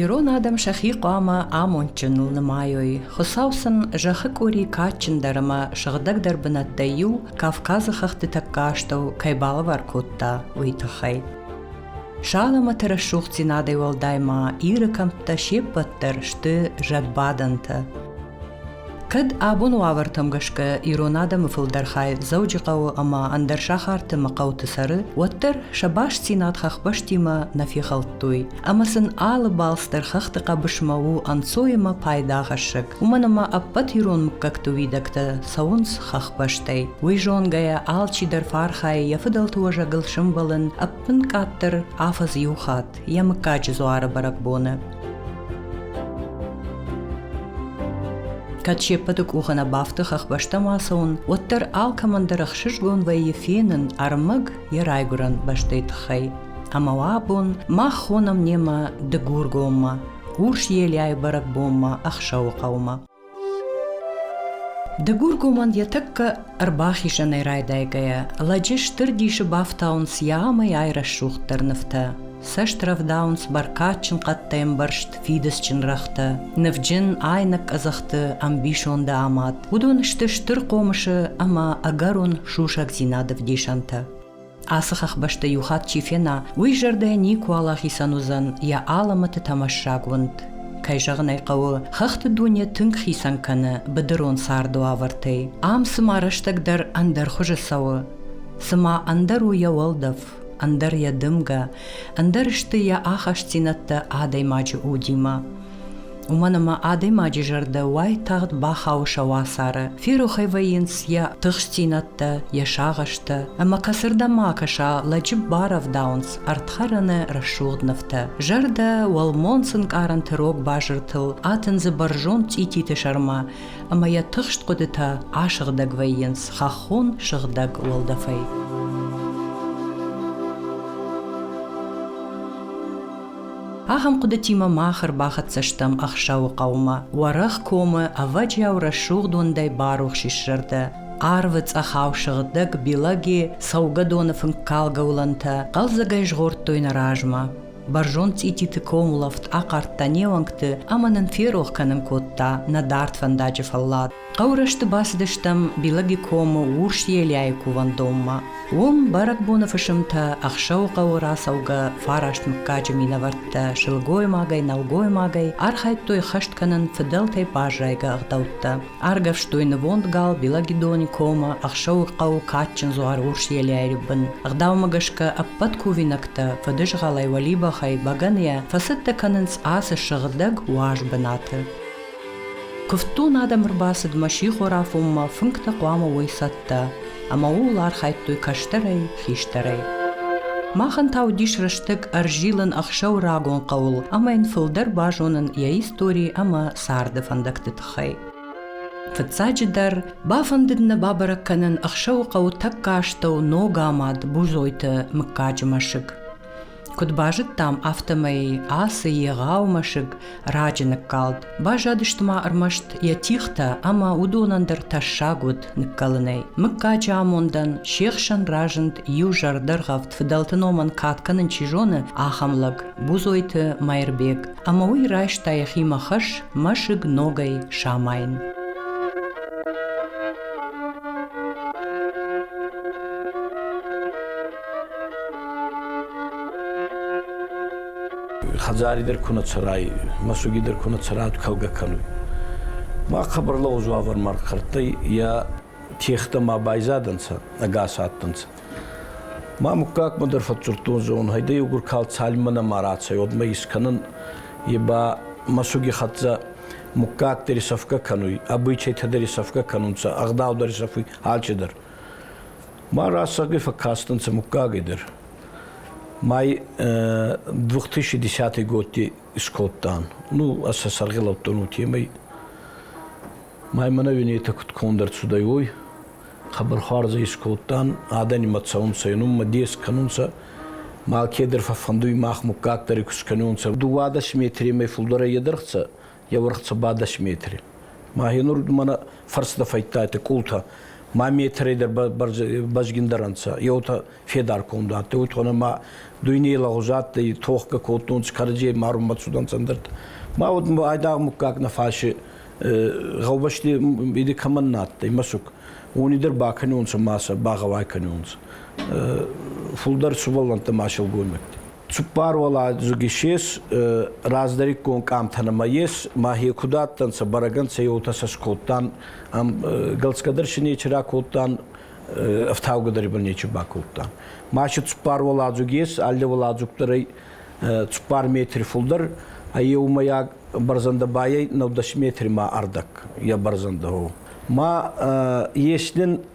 Ирон адӕм сӕхи хъуамӕ амондджыныл нымайой. Хуыцау сын зӕххы къуыри кадджындӕр ӕмӕ сыгъдӕгдӕр бынӕттӕй иу Кавказы хӕхты тӕккӕ астӕу кӕй балӕвар кодта, уый тыххӕй. Саламаты рӕсугъддзинадӕй уӕлдай ма Иры кӕмттӕ се ппӕт дӕр сты зӕдбадӕнтӕ. Кӕд абон уавӕртӕм гӕсгӕ ирон адӕмы фылдӕр хай Дзӕуджыхъӕуы ӕмӕ ӕндӕр сахарты мӕ хъӕуты цӕры, уӕддӕр сӕ бастдзинад хӕхбӕстимӕ нӕ фехӕлдтой, ӕмӕ сын алы балц дӕр хӕхты хъӕбысмӕ у ӕнцойӕмӕ пайдагӕсӕг. уымӕн ӕмӕ ӕппӕт ирон мыггӕгты уидӕгтӕ цӕуынц хӕхбӕстӕй. Уый зонгӕйӕ алчидӕр фархайы йӕ фыдӕлты уӕзӕгыл сӕмбӕлын ӕппынкъаддӕр афӕдз иу хатт йӕ мыггаджы дзуары бӕрӕгбоны. Кӕд се ппӕты къухы нӕ бафты хӕхбӕстӕм ацӕуын, уӕддӕр алкӕмӕн дӕр ӕхсызгон вӕййы фенын ӕрмӕг йӕ райгуырӕн бӕстӕйы тыххӕй. Ӕмӕ уӕ абон мах хонӕм немӕ Дыгургоммӕ. Урс елӕй бӕрӕгбонмӕ Ӕхсӕуы хъӕумӕ. Дыгургомӕн йӕ тӕккӕ ӕрбахизӕнӕй райдайгӕйӕ, лӕджы стыр дисы бафтауынц йӕ амӕй айрӕсугъддӕр нывтӕ. Цӕст рӕвдауынц бӕркадджын хъӕдтӕй ӕмбӕрзт фидыцджын рӕгътӕ, нывджын айнӕг къӕдзӕхты ӕмбисонды амад. Уыдон сты стыр хъомысы ӕмӕ ӕгӕрон сусӕгдзинады вдисӕнтӕ. Ацы хӕхбӕсты иу хатт чи фена, уый зӕрдӕ никуал ахицӕн уыдзӕн йӕ алӕмӕты тӕмӕссаг уынд. Кӕй зӕгъын ӕй хъӕуы, хӕхты дуне тынг хицӕн кӕны быдырон цардуавӕртӕй. Ам цыма рӕстӕг дӕр ӕндӕр хуызы цӕуы. Цыма ӕндӕр у йӕ уӕлдӕф, ӕндӕр йӕ дымгӕ, ӕндӕр сты йӕ ахастдзинӕдтӕ адӕймаджы удимӕ. уымӕн ӕмӕ адӕймаджы зӕрдӕ уайтагъд бахауы сӕ уацары ферохӕй вӕййынц йӕ тыхстдзинӕдтӕ йӕ сагъӕстӕ ӕмӕ кӕцырдӕм ма кӕса лӕджы барӕвдауынц ӕрдхӕрӕны рӕсугъд нывтӕ зӕрдӕ уӕлмонц ӕнкъарӕнты рог базыртыл атындзы бӕрзонд цъититы сӕрмӕ ӕмӕ йӕ тыхст хъуыдытӕ асыгъдӕг вӕййынц хӕххон сыгъдӕг уӕлдӕфӕй Ахӕм хъуыдытимӕ мах ӕрбахӕццӕ стӕм Ӕхсӕуы хъӕумӕ. Уӕрӕх комы ӕвӕджиау рӕсугъд уындӕй барухс ис зӕрдӕ. Арвы цъӕхау сыгъдӕг Билаги, цӕугӕдоны фынккалгӕ уылӕнтӕ хъӕлдзӕгӕй згъордтой нӕ размӕ. Бӕрзонд цъититы комулӕфт ахъардта не уӕнгты ӕмӕ нын ферох кӕнын кодта нӕ дард фӕндаджы фӕллад. Хъӕурӕсты бацыдыстӕм Белогикомы урс елӕйы кувӕндонмӕ. Уым бӕрӕгбоны фысымтӕ ӕхсӕвыхъӕуы рацӕугӕ фараст мыггаджы минӕвӕрттӕ сылгоймагӕй, нӕлгоймагӕй архайдтой хӕст кӕнын фыдӕлтӕй баззайгӕ ӕгъдӕуттӕ. Аргӕвстой нывонд гал Белогидоникомы ӕхсӕвыхъӕуы кадджын дзуар урс елӕйы бын. Ӕгъдаумӕ гӕсгӕ ӕппӕт кувинӕгтӕ фыдызгъӕлӕй, уӕлибӕхӕй, бӕгӕныйӕ фӕцӕттӕ кӕнынц ацы сыгъдӕг уаз бынаты. Куывддон адӕм ӕрбацыдмӕ сихор афонмӕ фынгтӕ хъуамӕ уой цӕттӕ, ӕмӕ ууыл архайдтой кӕстӕрӕй, хистӕрӕй. Махӕн та уыдис рӕстӕг ӕрзилын ӕхсӕв рагон хъӕуыл ӕмӕ йын фылдӕр базонын йӕ истори ӕмӕ царды фӕндӕгты тыххӕй. Фыццаджыдӕр, бафӕндыд нӕ бабӕрӕг кӕнын ӕхсӕвы хъӕуы тӕккӕ астӕу ног амад Бузойты мыггаджы мӕсыг. Куыд базыдтам, афтӕмӕй ацы егъау мӕсыг раджы ныккалд. Баззадысты ма ӕрмӕст йӕ тихтӕ ӕмӕ уыдонӕн дӕр тӕссаг уыд ныккӕлынӕй. Мыггаджы амондӕн се хсӕн разынд иу зӕрдӕргъӕвд фыдӕлты номӕн кад кӕнын чи зоны, ахӕм лӕг Бузойты Мӕирбег, ӕмӕ уый райста йӕхимӕ хӕс мӕсыг ногӕй самайын. хӕдзари дӕр ку нӕ цӕрай, мӕсуги дӕр ку нӕ цӕрай, кӕлгӕ кӕнуй. Ма хъӕбӕрлӕгъуз уавӕр ма рхӕрдтӕй, йа техтӕ ма байзадӕнцӕ, ӕгас адтӕнцӕ. Ма муггагмӕ дӕр фӕдздзурдтон зӕгъун, хайдӕ еугур калд цалинмӕ нӕма рацӕй, уӕдмӕ искӕнун, е ба мӕсуги хӕццӕ муггаг дӕр исӕфгӕ кӕнуй, обычайтӕ дӕр исӕфгӕ кӕнунцӕ, ӕгъдау дӕр исӕфуй, алчидӕр. Ма рацагӕй фӕккастӕнцӕ муггаги дӕр. Май 2010 годти скодтан. Ну, ӕз сӕ саргъелаудтон уотемӕй. Май мӕнӕ уинетӕ куд конд ӕрцудӕй, уой. Хъӕбӕрхуарзӕ искодтан, адӕнимӕ цӕунцӕ, нумӕ дес кӕнунцӕ. Ма алкедӕр фӕффӕндуй мах муггаг дӕр куст кӕнунцӕ. Дууадӕс метремӕй фулдӕрӕй едӕргъцӕ, Еуӕрх цо ба дӕс метри. Ма енурдмӕ нӕ фӕрстӕ фӕйттайтӕ къултӕ. Ма метрей дӕр бӕзгиндӕр ӕнцӕ. Еутӕ федар конд адтӕй, уотона ма дуйней лагъуз адтӕй, тохгӕ кодтонцӕ, кӕрӕдзей марун бацудӕнцӕ ӕндӕртӕ. Ма уӕдмӕ айдагъ муггаг нӕ фӕси гъӕубӕсти иди кӕмӕн нӕ адтӕй мӕсуг, уони дӕр бакӕнонцӕ ма сӕ багъӕуай кӕнонцӕ. Фулдӕр сувӕллӕнттӕ ма силгоймӕгти. Цуппар уӕладзуги ес раздӕриккон къамтӕ нӕмӕ ес, мӕхе куд адтӕнцӕ, бӕрӕгӕн сӕ еутӕ сӕ скодтан, ам гӕлцгӕ дӕр си нечи ракодтан, ӕфтаугӕ дӕр ба нечи бакодтан. Маси цуппар уӕладзуги ес, алле уӕладзуг дӕр ӕй цуппар метри фулдӕр, ӕ еумӕйаг бӕрзӕндӕ ба ӕй 90 метри ма ӕрдӕг, е бӕрзӕндӕ, о. Ма ес нин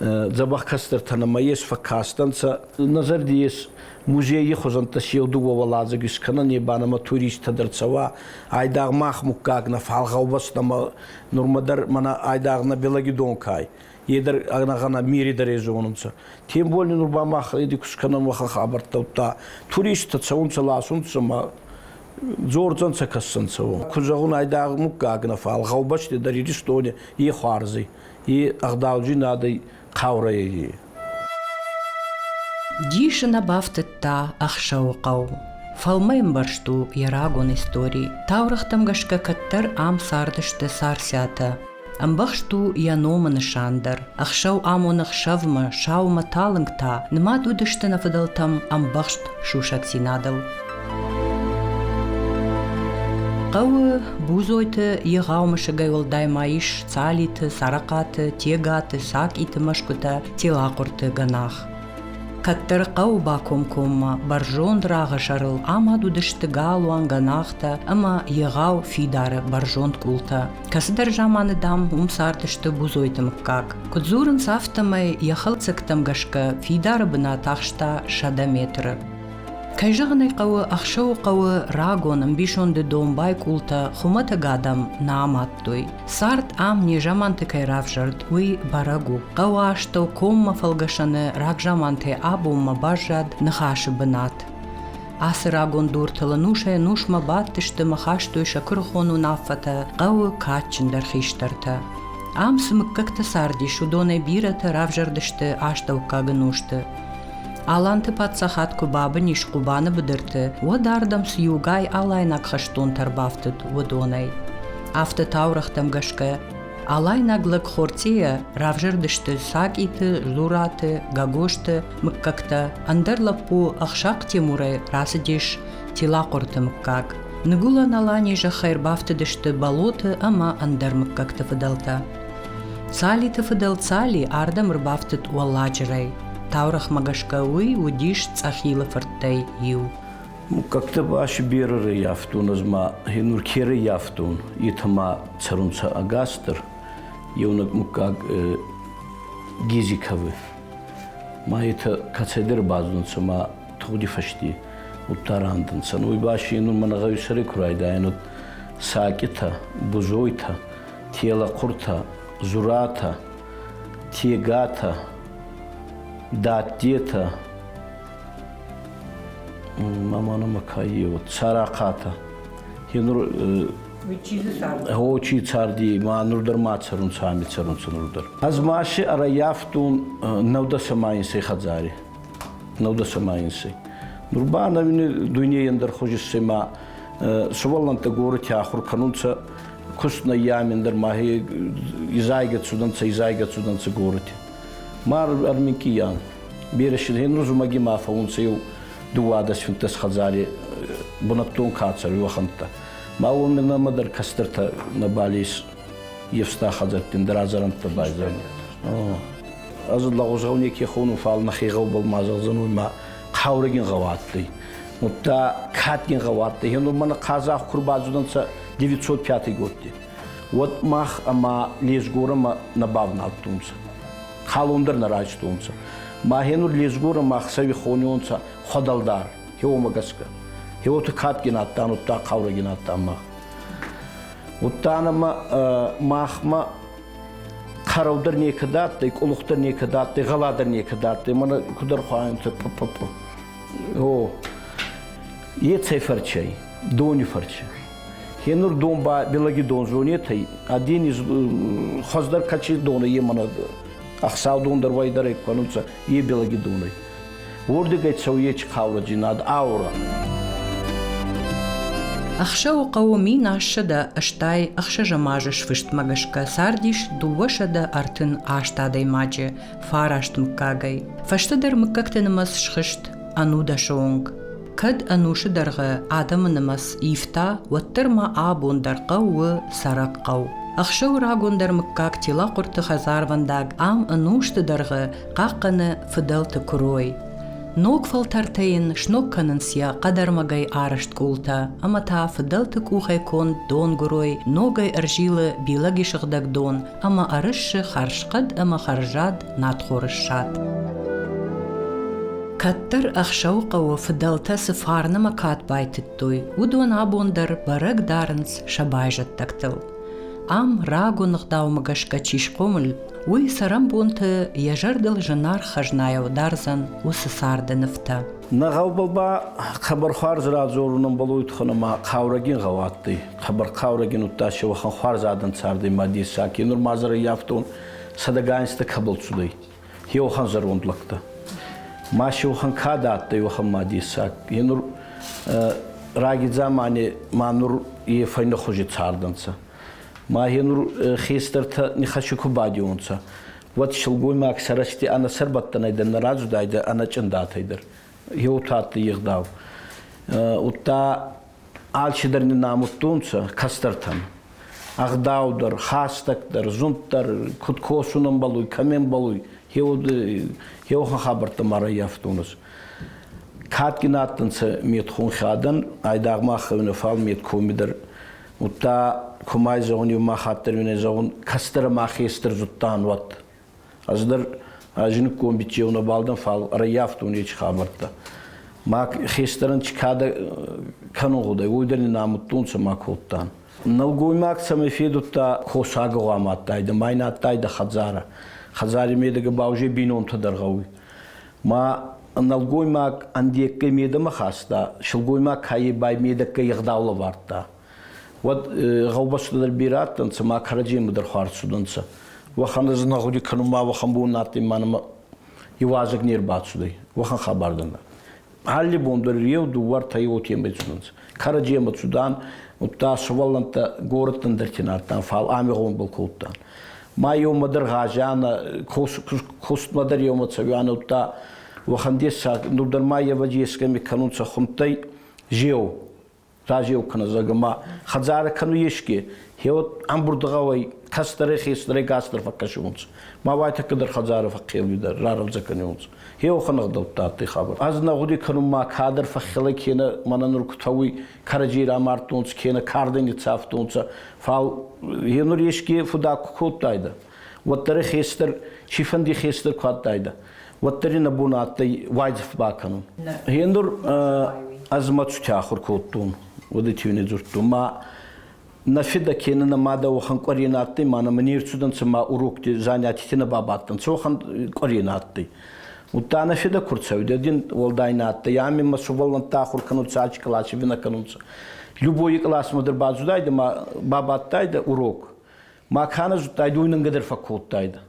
дзӕбӕх кӕстӕртӕн ӕма ес фӕккастӕнцӕ. Нӕ зӕрди ес музейи хузӕнттӕ си еу дууӕ уӕладзӕг искӕнӕн, е ба нӕмӕ туристтӕ дӕр цӕуа. Айдагъ мах муггаг нӕ фал гъӕубӕс нӕмӕ нурмӕ дӕр мӕнӕ айдагъ нӕ Белаги донкай. Е дӕр ӕнӕгъӕнӕ мири дӕр езонунцӕ. Тем болни нур ба мах еди куст кӕнӕн уӕхӕ хабӕрттӕуттӕ. Туристтӕ цӕунцӕ, ласунцӕ ма дзордзӕнцӕ, кӕссӕнцӕ уон. Куд зӕгъун, айдагъ муггаг нӕ, фал гъӕубӕсти дӕр Иристони е хуарзи. и ӕгъдауджынадӕй хъаурӕй. Дис ын бафтыдта ӕхсӕвы хъӕу. Фӕлмӕмбӕрзт у йӕ рагон истори. Таурӕгътӕм гӕсгӕ кӕддӕр ам цардысты Царциатӕ. Ӕмбӕхст у йӕ номы нысан дӕр. Ӕхсӕв амоны хсӕвмӕ, саумӕ талынг та, нымад уыдысты нӕ фыдӕлтӕм ӕмбӕхст сусӕгдзинадыл. Хъӕуы Бузойты егъау мысыгӕй уӕлдай ма ис Цалиты, Царахъаты, Тегаты, Сакъиты мӕсгуытӕ Телахъуырты гӕнах. Кӕддӕр хъӕуы бакомкоммӕ бӕрзонд рагъы сӕрыл амад уыдысты галуан, гӕнахтӕ ӕмӕ егъау фидары бӕрзонд къултӕ. Кӕцыдӕр заманы, дам, уым цардысты Бузойты мыггаг. Куыд дзурынц, афтӕмӕй йӕ хӕлцӕгтӕм гӕсгӕ фидары бынат ахста сӕдӕ метры. Кӕй зӕгъын ӕй хъӕуы, ӕхсӕвы хъӕуы рагон ӕмбисонды домбай къултӕ хуымӕтӕг адӕм нӕ амадтой. Цард ам незаманты кӕй равзӕрд, уый бӕрӕг у. Хъӕуы астӕу коммӕ фӕлгӕсӕны рагзаманты абонмӕ баззад ныхасы бынат. Ацы рагон дуртыл нусӕй-нусмӕ бадтысты ӕмӕ хастой сӕ куырыхон уынаффӕтӕ хъӕуы кадджындӕр хистӕртӕ. Ам цы мыггӕгтӕ цардис, уыдонӕй бирӕтӕ равзӕрдысты астӕуккаг ӕнусты. Аланты паддзахад куы бабын ис Хъубаны быдырты, уӕд ардӕм цы иугай алайнаг хӕстонтӕ ӕрбафтыд, уыдонӕй. Афтӕ таурӕгътӕм гӕсгӕ, алайнаг лӕг Хорцъийӕ равзӕрдысты Сакъиты, Зураты, Гагосты мыггӕгтӕ, ӕндӕр лӕппу Ӕхсахъ Темурӕй рацыдис Тилахъорты мыггаг. Ныгуылӕн Алани зӕххӕй ӕрбафтыдысты Болоты ӕмӕ ӕндӕр мыггӕгты фыдӕлтӕ. Цалиты фыдӕл Цали ардӕм ӕрбафтыд уӕлладжырӕй. Таурӕгъмӕ гӕсгӕ уый уыдис Цъӕхилы фырттӕй иу. Как-то аш берыры явтон, ӕз ма хенуркеры явтон, это ма цӕрунцӕ агастр, еунӕг муггаг Гизиковы. Ма это кацедер бадзунцӕ ма тугъди фӕсти удта рандӕнцӕ. Уй баши нур мӕнӕ гъӕуи сӕри ку райдайӕн, уӕд сакъитӕ, бузойтӕ, Телахъуртӕ, Зуратӕ, Тегатӕ, Дадтетӕ, маманы макайе, вот Сарахъатӕ. Е нур Очи царди, ма нур дӕр ма цӕрун са, ами цӕрун са нур дӕр. Аз маси ӕраяфтун нӕудасамайинсӕй хадзари. Нӕудасамайинсӕй. Нур ба нӕуини дуйнейӕн дӕр хузиссӕй ма сувӕллӕнттӕ горити ахур кӕнунцӕ куст нӕййамин дӕр махе изайгӕ цудӕнцӕ изайгӕ цудӕнцӕ гороти. Мар армикиян. Берешин хен рузумаги ма фаунцӕ еу дууадӕс финтес хӕдзари бунӕттон кацар уохӕнттӕ. Ма уоми нӕмӕ дӕр кӕстӕртӕ нӕбалис евста хӕдзӕрттин дӕр азарӕнттӕ байзайнет. Аз лӕгъузгъау неке хонун фал нӕхе гъӕубӕл ма зӕгъдзӕнуй ма хъаурӕгин гъӕуӕттӕй. Удта кадгин гъӕуӕттӕй. Хен мӕнӕ хъазах кур бадзудӕнцӕ 905 годти, уӕд мах ӕма Лесгорамӕ нӕ бавналдтонцӕ. Халон дӕр нӕ райстонцӕ. Махенур Лесгорамӕ ӕхсӕви хонионцӕ Хуӕдӕлдар, еуомӕ гӕсгӕ. Еуоти кадгин адтан, удта хъаурӕгин адтан мах. Удта нӕмӕ махмӕ хъарау дӕр некӕд адтӕй, къулух дӕр некӕд адтӕй, гъӕла дӕр некӕд адтӕй, мӕнӕ куд ӕрхуайунцӕ. О, Ецӕй фӕрчӕй, дони фӕрчи. Хенур дон ба Белаги дон зонетӕй, адени хуӕздӕр качи дона е мана ӕхсау дон дӕр уайдӕрӕй кӕнунцӕ е Белаги донӕй. Уордигӕй цӕуйечи хъаураджи над аура. Ӕхсӕвы хъӕуы мин ассӕдӕ ӕстай ӕхсӕзӕм азы сфыстмӕ гӕсгӕ цардис дыууӕсӕдӕ ӕртын аст адӕймаджы, фараст мыггагӕй. Фӕстӕдӕр мыггӕгты нымӕц схызт ӕнудӕсы онг. Кӕд ӕнусы дӕргъы адӕмы нымӕц ивта, уӕддӕр ма абон дӕр хъӕуы цӕрӕг хъӕу. Ӕхсӕвы рагондӕр мыггаг Телахъуырты хӕдзарвӕндаг ам ӕнусты дӕргъы хъахъхъӕны фыдӕлты куырой. Ног фӕлтӕртӕ йын сног кӕнынц йӕ хъӕдӕрмӕгӕй арӕзт къултӕ, ӕмӕ та фыдӕлты къухӕй конд донгуырой ногӕй ӕрзилы Билаги сыгъдӕг дон ӕма ӕрысси хӕрзхъӕд ӕма хӕрзад надхорыссад. Кӕддӕр ӕхсӕвыхъӕуы фыдӕлтӕ цы фарнымӕ кад байтыдтой, уыдон абон дӕр бӕрӕг дарынц сӕ байзӕддӕгтыл. Ам рагон ӕгъдаумӕ гӕсгӕ чи схъомыл, уый цӕрӕнбонты йӕ зӕрдыл зынаргъ хӕзнайау дардзӕн уыцы царды нывтӕ. Нӕ гъӕу ба хъӕбӕрхуарз радзорунӕн Болой тухӕн ӕма хъаурӕгин гъӕу адтӕй. хабархъаурӕгин удта си уӕхӕн хуарз адӕн цардӕй ма дессаг. Е нур ма зӕр ӕййафтон, сӕдӕгайнстӕ кӕбӕл цудӕй, е уӕхӕн зӕронд лӕгтӕ. Ма си уӕхӕн кадӕ адтӕй уӕхӕн ма дессаг. Е нур раги дзамани ма нур е фӕйнӕхузи цардӕнцӕ. Ма е нур хестӕртӕ нихӕси ку бадеуонцӕ, уӕд силгоймаг сӕрӕсти ӕнӕ сӕрбӕттӕнӕй дӕр нӕ радзудайдӕ ӕнӕ чъиндатӕй дӕр. Еу адтӕй егъдау. Удта Алчидӕр нин амудтонцӕ кӕстӕртӕн. Ӕгъдау дӕр, хӕстӕг дӕр, зунд дӕр, куд косун ӕмбӕлуй, кӕми ӕмбӕлуй, е уод еуӕхӕн хабӕрттӕ ма раййафтонцӕ. Кадгин адтӕнцӕ медхунхӕдӕн, айдагъ мах хевнӕ, фал медкоми дӕр. Удта, кумӕй зӕгъун, еу мах аддӕр уинӕй зӕгъун, кӕстӕрӕ мӕхе стыр зудтан, уӕд. Ӕз дӕр ӕ зинггон бичъеу нӕбал дӕн, фал ӕрӕййафтон ечи хабӕрттӕ. Ма хестӕрӕн чи кадӕ кӕнун гъудӕй, уой дӕр нин амудтонцӕ ма кодтан. Нӕлгоймаг цӕмӕй федудта косагӕ гъуама адтайдӕ, ма ин адтайдӕ хӕдзарӕ. Хӕдзари медӕгӕ ба узе бийнонтӕ дӕр гъӕуй. Ма нӕлгоймаг ӕндеггӕй медӕмӕ хаста, силгоймаг каййе бай медӕггӕй егъдаул ӕвардта. Уӕд гъӕубӕстӕ дӕр бирӕ адтӕнцӕ, ма кӕрӕдземӕ дӕр хуарз цудӕнцӕ. Уӕхӕн ӕз нӕ гъуди кӕнун ма уӕхӕн бон адтӕй ма нӕмӕ иуазӕг не рбацудӕй, уӕхӕн хабар дӕр нӕ. Алли бон дӕр еу, дууӕртӕй уотемӕй цудӕнцӕ. Кӕрӕдземӕ цудан, удта сувӕллӕнттӕ горӕттӕн дӕр ке нардтан, фал ами гъомбӕл кодтан. Ма еумӕ дӕр гъазианӕ, кустмӕ дӕр еумӕ цӕуианӕ, удта уӕхӕн дессаг, ну дӕр ма евӕди ескӕми кӕнунцӕ хундтӕй, зеу. разеу кӕнӕ зӕгъгӕ ма хӕдзарӕ кӕнуй еске хеуот ӕмбурдгъӕуӕй кӕстӕрӕй хестӕрӕй кӕстӕр фӕккӕсунцӕ ма уайтӕккӕ дӕр хӕдзарӕ фӕххеуидӕр раразӕ кӕнунцӕ хеуохӕн ӕгъдӕуттӕ адтӕй хабар ӕз нӕ гъуди кӕнун ма кадӕр фӕххелӕ кенӕ мӕнӕ нур кутӕуй кӕрӕдзей рамардтонцӕ кенӕ кардӕн ниццавтонцӕ фал е нур еске фудак ку кодтайдӕ уӕддӕр хестӕр, цифӕнди хестӕр ку адтайдӕ, уӕддӕр нӕ бон адтӕй уайдзӕф бакӕнун. Гъендур ӕз мӕ цутӕ ахур кодтон, уӕдӕти уин дзурдтон. Ма нӕ федӕ кенӕ нӕ мадӕ уӕхӕн къуӕре нӕ адтӕй, ма нӕ мӕ не рцудӕнцӕ ма урокти занятити нӕ бабадтӕнцӕ, уӕхӕн къуӕре нӕ адтӕй. Удта нӕ федӕ ку рцӕуидӕ, дин уӕлдай нӕ адтӕй. Ами мӕ сувӕллӕнттӕ ахур кӕнунцӕ, ачи къласи винӕ кӕнунцӕ. Любой классмӕ дӕр бацудайдӕ ма бабадтайдӕ урок. Ма кӕнӕ зудтай, дуй нӕнгӕ дӕр фӕккодтайдӕ.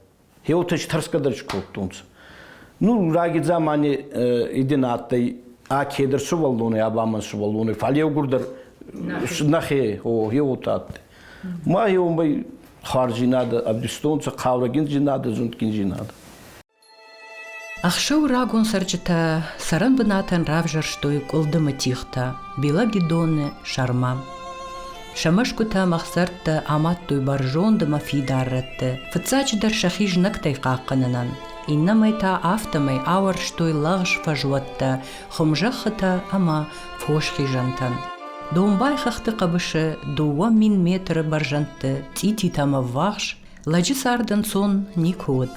Хеутӕ тӕрсгӕ дӕр скодтонцӕ. Нур рагидзамани идин адтӕй ӕ кедӕр сувӕллонӕй, ӕ ба мӕн сувӕллонӕй, фал еугурдӕр нӕхе о, еуотӕ адтӕй. Ма еумӕ хуарзийнадӕ ӕвдистонцӕ, хъаурӕгиндзийнадӕ, зундгиндзийнадӕ. Ӕхсӕв рагон цӕрджытӕ цӕрӕн бынатӕн равзӕрстой къуылдымы тигътӕ, белогидоны, сӕрмӕ. Сӕ мӕсгуытӕ ӕмӕ ӕхсӕртӕ амадтой бӕрзонд ӕмӕ фидар рӕтты, фыццаджыдӕр сӕхи знӕгтӕй хъахъхъӕнынӕн, иннӕмӕй та афтӕмӕй ауӕрстой лӕгъз фӕзуӕттӕ, хуымзӕххытӕ ӕмӕ фосхизӕнтӕн. Домбай хӕхты хъӕбысы дыууӕ мин метры бӕрзӕндты цъититӕ ӕмӕ ввахс Лӕджы цард ӕнцон никуы уыд.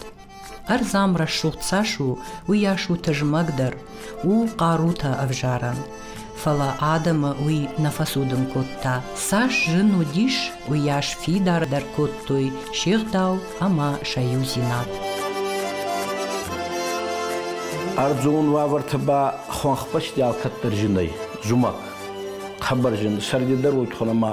Ӕрдзам рӕсугъд цас у, уыйас у тызмӕгдӕр, у хъарутӕ ӕвзарӕн. Фӕлӕ адӕмы уый нӕ фӕцудын кодта. Цас зын уыдис, уыйас фидардӕр кодтой се гъдау ӕмӕ сӕ иудзинад. Ӕрдзон уавӕрты ба хуӕнхбӕсти алкӕддӕр зынӕй, зумӕг. Хъӕбӕр зын, сӕрдидӕр уой тхон ӕма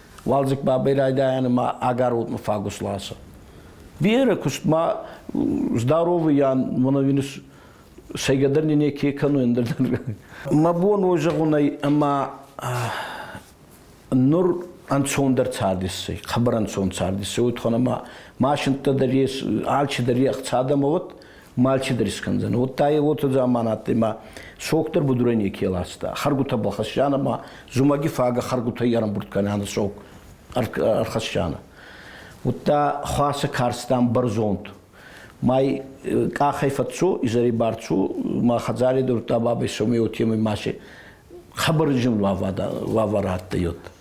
Уалдзыг бабӕй райдайӕны ма агӕротмӕ фагус ласы. Бирӕ куыстмӕ здоровыйӕн моновирус сӕйгӕдӕр не неке кӕны ӕндӕр. Мӕ бон ой зӕгъун ӕй, ӕма нур ӕнцондӕр цардиссӕй, хъӕбӕр ӕнцон цардиссӕй, уотхӕн ӕма машинттӕ дӕр ес, алчи дӕр ехх цадӕмӕ уӕд, мальчи дӕр искӕндзӕн. Уӕдта е уотӕ заман адтӕй, сохтӕр будурӕй неке ласта. Хӕргутӕ балхӕссиан ӕма зумӕги фагӕ хӕргутӕй ӕрӕмбурд кӕнӕнӕ сок ӕрхӕссианӕ. Удта хуасӕ карстан бӕрзонд. Май э, къахӕй фӕццо, изӕри барцу, ма хӕдзари дурдта бабӕй сомей уотемӕй масе хабар зин лавара адтӕй, уот.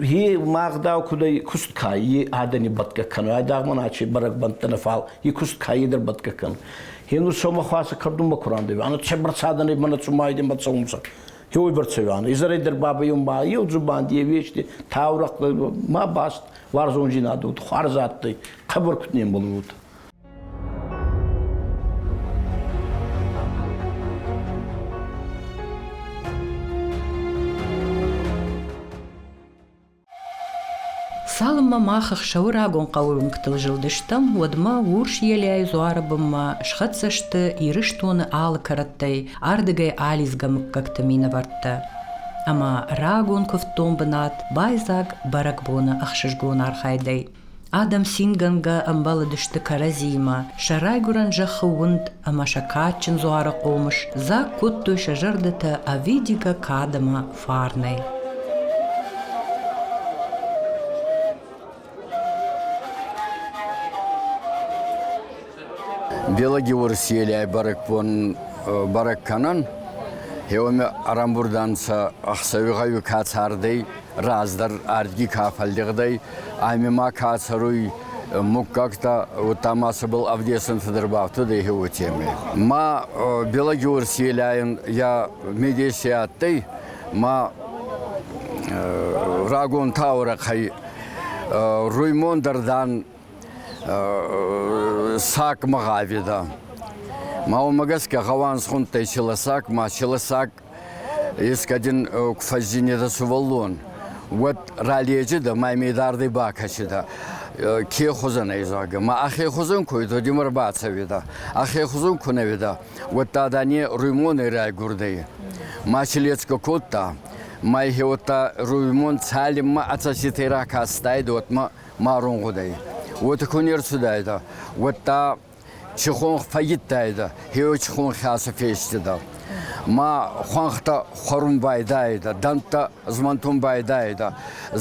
Е магдау куд куст ка, е адӕни бӕтгӕ кӕнун, айдагъ мӕн аче бӕрӕгбӕнттӕ фал, е куст ка едӕр бӕтгӕ кӕнун. Генур сомӕ хуасӕ кӕрдунмӕ ку рандеве, ана че бӕрцадӕнӕй мӕнӕ цума айден бацӕунцӕ. Еуй бӕрцеве, изӕрӕй дӕр бабайон ба, еу дзубанди, е вещи, таурӕхъ ма баст, уарзондзийнадӕ, хуарз адтӕй, хъӕбӕр куд не мбалуй. Цалынмӕ мах ӕхсӕвы рагон хъӕуы уынгтыл зылдыстӕм, уӕдмӕ урс елӕй дзуары бынмӕ схӕццӕ сты Ирыстоны алы кӕрӕттӕй ардыгӕй алидзгӕ мыггӕгты минӕвӕрттӕ. Ӕмӕ рагон куывддон бынат байдзаг бӕрӕгбоны ӕхсызгон архайдӕй. Адӕм цингӕнгӕ ӕмбӕлыдысты кӕрӕдзиимӕ, сӕ райгуырӕн зӕххы уынд ӕмӕ сӕ кадджын дзуары хъомыс дзаг кодтой сӕ зӕрдӕтӕ ӕвидигӕ кад ӕмӕ фарнӕй. Белоги Уӕрӕсейлӕй бӕрӕгбон бӕрӕг кӕнӕн. Еуӕме ӕрӕмбурд ӕнцӕ ӕхсӕви гъӕуи ка цардӕй, раздӕр ӕрдги ка фӕллигъдӕй, ами ма ка цӕруй муггӕгтӕ, удта ма цӕбӕл ӕвдесунцӕ дӕр бафтудӕй еуетемӕй. Ма Белоги Уӕрӕсейлӕн я медеси адтӕй, ма рагон таурӕхъӕй Руймон дӕр, дан, сак мыгъавида. Ма уымӕ гӕсгӕ гъӕуанзхуынтӕй челосак, ма челосак ескадин куы фӕззинеда сувӕллон, уӕд раледжеда ма медардӕй бакӕсида ке хузӕн ӕй зӕгъгӕ. Ма ӕхе хузӕн куй додимӕр бацӕуида, ӕхе хузӕн ку нӕуида, уӕдта дане руймонӕй райгурдӕй. Ма челецка кодта, ма ихе уӕдта руймон цалинмӕ ацӕситӕй ракастайдӕ, уотмӕ марун гъудӕй. Уотӕ ку не рцудайдӕ, уӕдта чихон фӕййидтайдӕ, хеуӕ хӕсӕ фестидӕ. Ма хуӕнхтӕ хуӕрун байдайидӕ, дӕнттӕ змӕнтун байдайидӕ,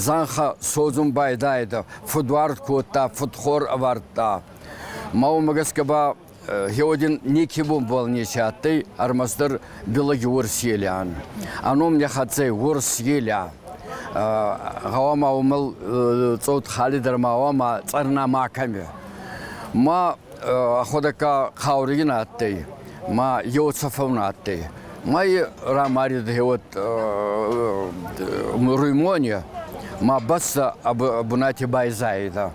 зӕнхӕ содзун байдайидӕ, фудвард кодта, фудхор ӕвардта. Ма уомӕ гӕсгӕ ба Геодин некебун болнети адтӕй ӕрмӕстдӕр Белоги-Уорс Елиан. Ӕном не хӕццӕй Уорс Елиа. Гъӕуама уомӕл цъот халидӕр ма гъӕуама цъӕрна ма кӕми. Ма ходӕка хауригин адтӕй, ма еуцӕфӕун адтӕй. Ма рамарид геот Руймоне, ма бӕстӕ бунати байзаидӕ.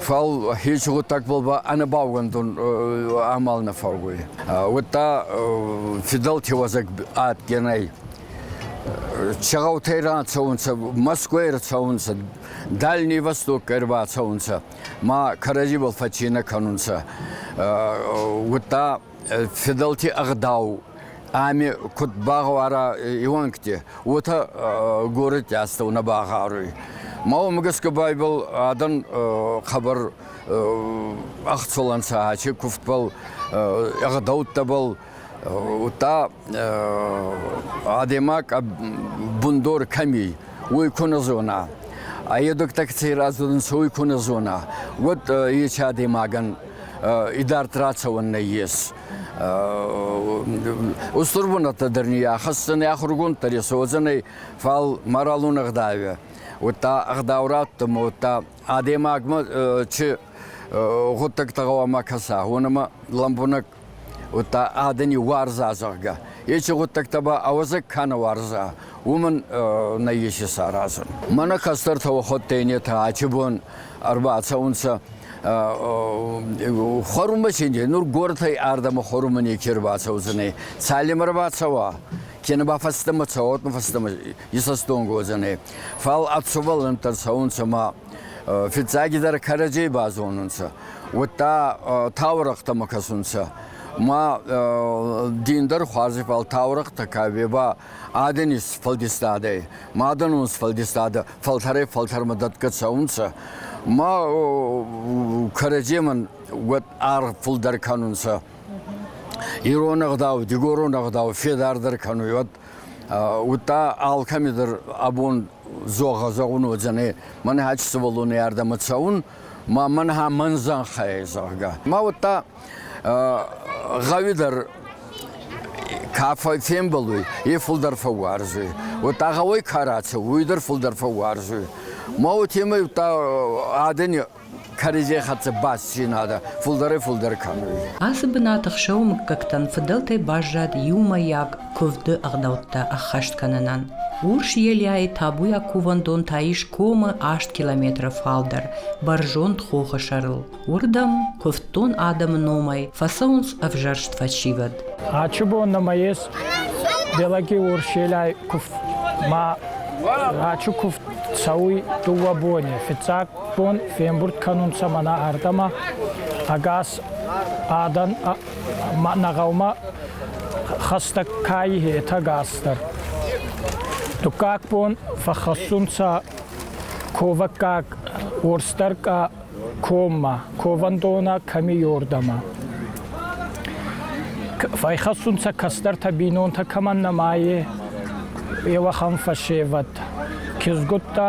Фал хеци гъуддагбӕл ба ӕнӕбаугӕндон амал нӕ фӕууй. Удта фидӕлти уӕзӕг адтӕй нӕй. Чегъаутӕй рацӕунцӕ, Мӕскуй рацӕунцӕ, Дальний Востокӕй рбацӕунцӕ, ма кӕрӕдзибӕл фӕццийнӕ кӕнунцӕ. Удта федӕлти ӕгъдау ами куд багъавара иуӕнгти, уотӕ горӕти астӕунӕ багъаруй. Ма уомӕ гӕсгӕ байбал адӕн хабар ӕхцолӕнцӕ, ачи кувдбӕл, ӕгъдӕуттӕбӕл, удта адӕймаг бундор кӕми, уой ку нӕ зона. А едук такси раздзорунцӕ, уой ку нӕ зона, уӕд ечи адӕймагӕн идард рацӕуӕн нӕййес. Устур бунӕттӕ дӕр ни ахӕссӕн ахургонддӕр ес, уодзӕнӕй, фал моралон ӕгъдауӕ, уӕдта ӕгъдаурӕдтӕмӕ, уӕдта адӕймагмӕ чи гъуддӕгтӕ гъӕуама кӕса, уонӕмӕ лӕмбунӕг уӕдта адӕни уарза, зӕгъгӕ. Ечи гъуддӕгтӕ ба ауӕдзӕг ка нӕ уарза, уомӕн нӕййес исаразун. Мӕнӕ кӕстӕртӕ уӕхуӕдтӕй нетӕ ачи бон ӕрбацӕунцӕ хуӕрунмӕ чинди, нур горӕтӕй ардӕмӕ хуӕрунмӕ неке ӕрбацӕудзӕнӕй. Цалемӕ ӕрбацӕуа, кенӕ ба фӕстӕмӕ цӕуа, уотмӕ фӕстӕмӕ исӕстонг уодзӕнӕй. Фал ӕ цубӕллӕнттӕ цӕунцӕ ма Фиццагидӕр кӕрӕдзей базонунцӕ, уӕдта таурӕхътӕмӕ кӕсунцӕ. Ма дин дӕр хуарзи фал таурӕхътӕ кӕбе ба адӕни сфӕлдистадӕй, мадӕнон сфӕлдистадӕ фӕлтӕрӕй фӕлтӕрмӕ дӕтгӕ цӕунцӕ. Ма кӕрӕдземӕн уӕд аргъ фулдӕр кӕнунцӕ. Ирон ӕгъдау, дигорон ӕгъдау федардӕр кӕнуй, уӕд Уыдта алкӕмидӕр абон зӕгъа зӕгъун уодзӕнӕй, мӕн хӕтт сувӕллони ардӕмӕ цӕун, ма мӕн ха мӕн зӕнхӕй, зӕгъгӕ. Ма уӕдта гъӕуи дӕр ка фембӕлуй, е фулдӕр фӕууарзуй. Уӕдта гъӕуӕй ка рацӕуй, уой дӕр фулдӕр фӕууарзуй. Ма уотемӕй удта адӕни кӕрӕдзей хӕццӕ бассейнадӕ фулдӕрӕй-фулдӕр кӕнуй. Ацы бынаты хсӕвы мыггӕгтӕн фыдӕлтӕй баззад иумӕйаг куывды ӕгъдӕуттӕ ӕххӕст кӕнынӕн. Урс Елиайы табуйаг кувӕндон та ис комы аст километры фалдӕр, бӕрзонд хохы сӕрыл. Уырдӕм куывддон адӕмы номӕй фӕцӕуынц ӕвзӕрст фӕсивӕд. Ачыбон нӕма ес, Белаги Урс Елиай куфт ма Ачу куфт цӕуй дууӕ бони, фиццаг бон фембурд кӕнунцӕ мӕнӕ ардӕмӕ ӕгас адӕн мӕнӕ гъӕумӕ хӕстӕг кайи етӕ гасдӕр. Дуккаг бон фӕххӕссунцӕ ковӕггаг уорсдӕркъа коммӕ, ковӕндонӕ кӕми уордӕмӕ. Фӕйхӕссунцӕ кӕстӕртӕ бийнонтӕ кӕмӕн нӕма е, е уӕхӕн фӕсевӕд. Кизгуттӕ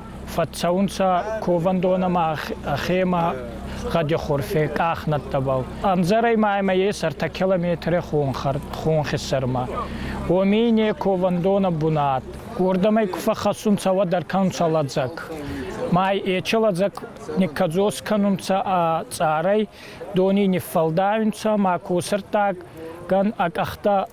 Фӕццӕунцӕ ковӕндон ӕма ӕхемӕ гъӕдихорфе къахнӕдтӕбӕл. Ӕмдзӕрӕй ма ӕма е сӕртӕ километре хонхи сӕрмӕ. Уоми не ковӕндонӕ бунат. Уордӕмӕй ку фӕххӕссунцӕ, уӕд ӕркӕнунцӕ лӕдзӕг. Ма ечи лӕдзӕг никкӕдзос кӕнунцӕ ӕ цъарӕй, дони ниффӕлдайунцӕ, ма косӕрттагӕн ӕ къӕхтӕ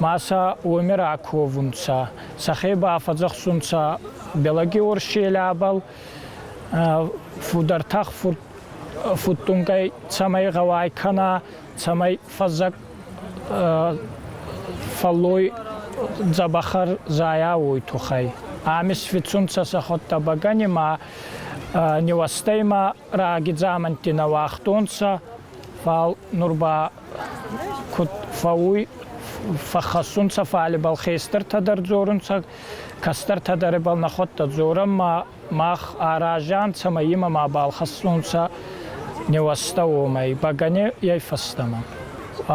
ма сӕ уоми раковунцӕ, сӕхе ба фӕдзӕхсунцӕ Белогеорсчъелӕбӕл фудӕртӕх фудтунгӕй цӕмӕй гъӕуай кӕна, цӕмӕй фӕззӕг фӕллой дзӕбӕхӕр зайа, уой туххӕй. Ами сфицунцӕ сӕхуӕдтӕ бӕгӕни ма нивӕстӕй ма раги дзаманти нӕ уагътонцӕ, фал нур ба Куд фӕууй, фӕххӕссунцӕ, фал ибӕл хестӕртӕ дӕр дзорунцӕ, кӕстӕртӕ дӕр ибӕл нӕхуӕдтӕ дзорӕн, ма мах аразӕ нцӕ ӕма имӕ мабал хӕссунцӕ нивӕстӕ уомӕй, бӕгӕней фӕстӕмӕ.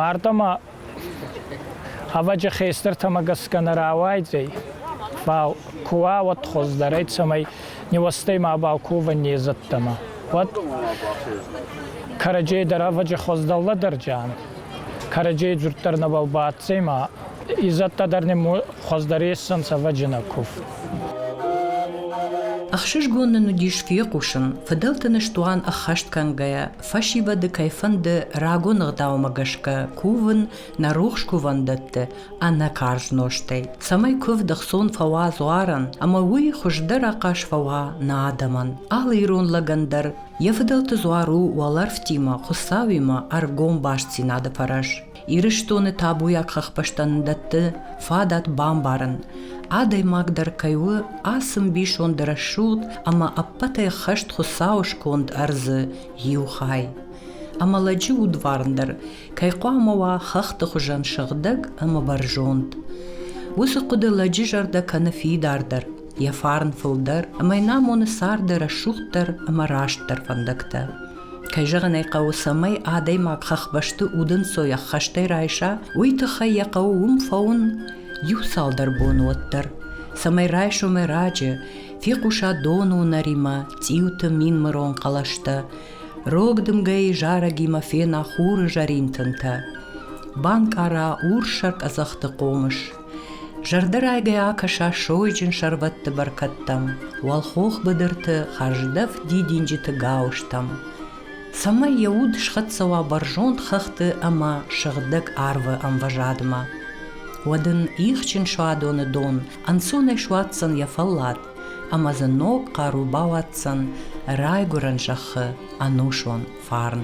Ардӕмӕ ӕвӕджи хестӕртӕмӕ гӕсгӕ нӕ рауайдзӕй, фал ку уа, уӕд хуӕздӕр ӕй, цӕмӕй нивӕстӕй мабал ковӕн не зӕдтӕмӕ. уӕд кӕрӕдзей дарӕвӕджи хуӕздӕллӕдӕрдӕ ан, кӕрӕдзей дзурддӕр нӕбал бацӕй ма изӕдтӕ дӕр нӕ хуӕздӕр ессӕн цӕвӕджинӕ куф. Ӕхсызгон нын уыдис фехъусын, фыдӕлты ныстуан ӕххӕст кӕнгӕйӕ, фӕсивӕды кӕй фӕнды рагон ӕгъдаумӕ гӕсгӕ кувын нӕ рухс кувӕндӕтты ӕнӕ карз нозтӕй, цӕмӕй куывд ӕхцон фӕуа дзуарӕн ӕмӕ уый хуыздӕр ахъаз фӕуа нӕ адӕмӕн. Алы ирон лӕгӕн дӕр йӕ фыдӕлты дзуар у уӕлӕрвтимӕ Хуыцауимӕ ӕргом бастдзинады фӕрӕз. Ирыстоны табуйаг хӕхбӕстӕн дӕтты фадат бамбарын, адӕймаг дӕр кӕй у ацы мбисонд рӕсугъд ӕмӕ ӕппӕтӕй хӕст Хуыцауы сконд ӕрдзы иу хай. Ӕмӕ лӕджы удварн дӕр кӕй хъуамӕ уа хӕхты хуызӕн сыгъдӕг ӕмӕ бӕрзонд. Уыцы хъуыды лӕджы зӕрдӕ кӕны фидардӕр, йӕ фарн фылдӕр ӕмӕ йын амоны царды рӕсугъддӕр ӕмӕ растдӕр фӕндӕгтӕ. Кӕй зӕгъын ӕй хъӕуы, цӕмӕй адӕймаг хӕхбӕсты удӕнцой ӕххӕстӕй райса, уый тыххӕй йӕ хъӕуы уым фӕуын иу цалдӕр боны уӕддӕр, цӕмӕй райсом ӕрӕджы фехъуса доны уынӕримӕ цъиуты мин мырон хъӕлӕстӕ, Рог дымгӕйы зарӕгимӕ фена хуры зӕрин тынтӕ. Банкъара урссӕр къӕдзӕхты хъомыс. Зӕрдӕрайгӕ акӕса сойджын сӕрвӕтты бӕркӕдтӕм, уӕлхох быдырты хӕрздӕф дидинджыты гауызтӕм. Цӕмӕй йӕ уд схӕццӕ уа бӕрзонд хӕхты ӕмӕ сыгъдӕг арвы ӕмвӕзадмӕ. Уӕд ын ихджын суадоны дон ӕнцонӕй суадздзӕн йӕ фӕллад, ӕма дзы ног хъару бауадздзӕн райгурӕн зӕххы ӕнусон фарн.